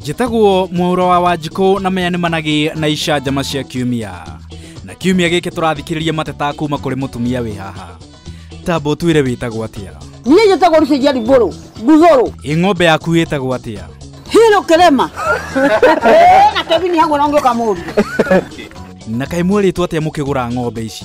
njĩtagwo mwaũra wa wanjikũ na maya nĩ managĩ na icanjama cia kiumia na kiumia gĩkĩ tũrathikĩrĩria mateta kuma kũrĩ mũtumia wĩ haha tambo twĩre wĩtagwo atĩa niä njä tagwo ricä njari mbå rå nguthå rå ĩ ng'ombe yaku ĩtagwo atĩa hirå kä rema na kebini hagwo na å ngä å kamå ria na kaĩ mwerĩtwo atĩa mũkĩgũra ng'ombe ici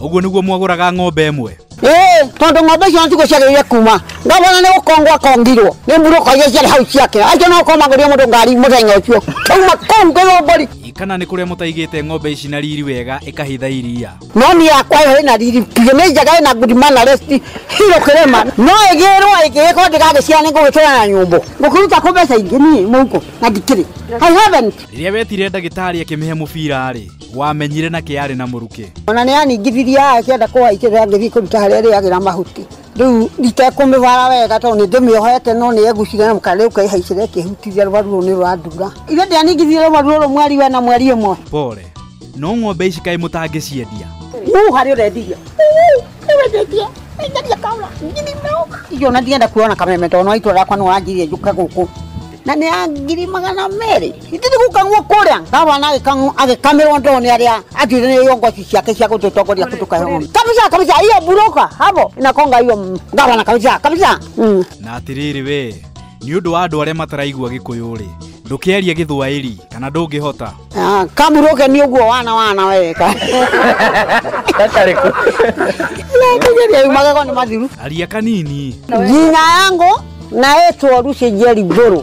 Ũguo nĩguo mwagũraga ng'ombe ĩmwe? Ee, tondũ ng'ombe icio nĩtiguo ciagĩrĩire kuma ngavana nĩ gũkongwo akongirwo nĩ mburũka iria ciarĩ hau ciake acio no gũkorwo magũrire mũndũ ngari mũthenya ũcio kauma kũu ngĩrwo mbũri Kana nĩ kũrĩa mũtaigĩte ng'ombe ici na riri wega ĩkahitha iria? no niĩ yakwa ĩyo ĩna riri biũ nĩ njega ĩna good manners hiro kĩrĩma no ĩgĩrwo ĩngĩ gĩkorwo ndĩgagĩciara nĩ ngũgĩkĩra na nyũmbũ ngũkĩruta kũ mbeca ingĩ niĩ mũhuko na ndikĩrĩ I haven't Rĩrĩa wetire ndagĩtarĩ akĩmĩhe mũbira-rĩ, wamenyire na kä arä na må rukä ona nä aningithirie akĩenda kũhaikĩrĩra ngĩthiĩ kũruta harĩa ĩrĩagĩra mahuti rĩu itekũmĩbara wega tondũ nĩ ndĩmĩohete no nĩ egucire na mũkana rĩu kaihaicĩra ĩkĩhutithia rũbaru rũu nĩ rwandura ithe ndianingithirie rũbaru rũrũ mweri wena mweri ĩmwe pore no ng'ombe ici kaä må tangä ciendia uu harĩ ũrendiria nĩwendetie enderia kaura ngiri mĩrongo icio na ndienda kuona kameme tondũ no itũra rĩakwa nĩ wanjirie njũke gũkũ na nĩ ya ngiri magana merĩ itini gukang'wo kũrĩa ngavana agĩkang'wo agĩkamirwo ndoo nĩ arĩa atuithanĩirio ngoci ciake cia gũtũtongoria tũkahome kabisa kabisa hiyo buroka hapo inakonga hiyo mm, ngavana kabisa kabisa mm. na atĩrĩrĩ we nĩ ũndũ wa andũ arĩa mataraigua gĩkũyũ-rĩ ndũkĩarie gĩthwaĩri kana ndũngĩhota Ah, kamuroke nĩ ũguo wana wana weka magego nĩ mathiru aria kanini jina yangu naitwa rusi jeri ngũrũ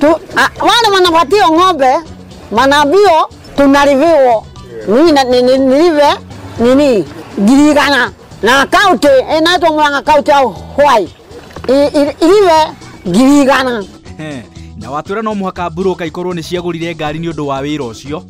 Tu, a, wale wanapatiwa ng'ombe manaambio tunaliviwa mimi na- ni- ni- nilive nini girigana na kaunti inaitwa Murang'a kaunti ya Hwai I- i- ilive girigana He, na watwĩra no mũhaka mburũka ikorwo nĩ ciagũrire ngari nĩ ũndũ wa wĩra ũcio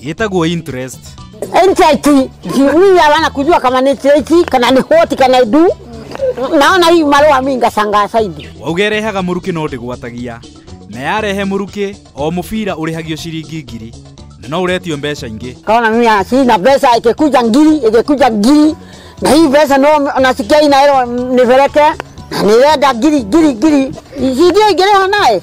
Yetagwo interest. NTIT mimi hawana kujua kama ni NTIT kana ni hoti kana idu naona hii marua mimi ngasanga saidi Wauga ĩrehaga mũrukĩ no ndĩgwatagia. Na yarehe mũrukĩ, o mũbira ũrĩhagio ciringi ngiri. Na no ũretio mbeca ingĩ. kaona mimi ah, sina pesa ikikuja ngiri ikikuja ngiri na hii pesa no nasikia inaelewa nipeleke na nirenda ngiri ngiri ngiri sijui ingereha naye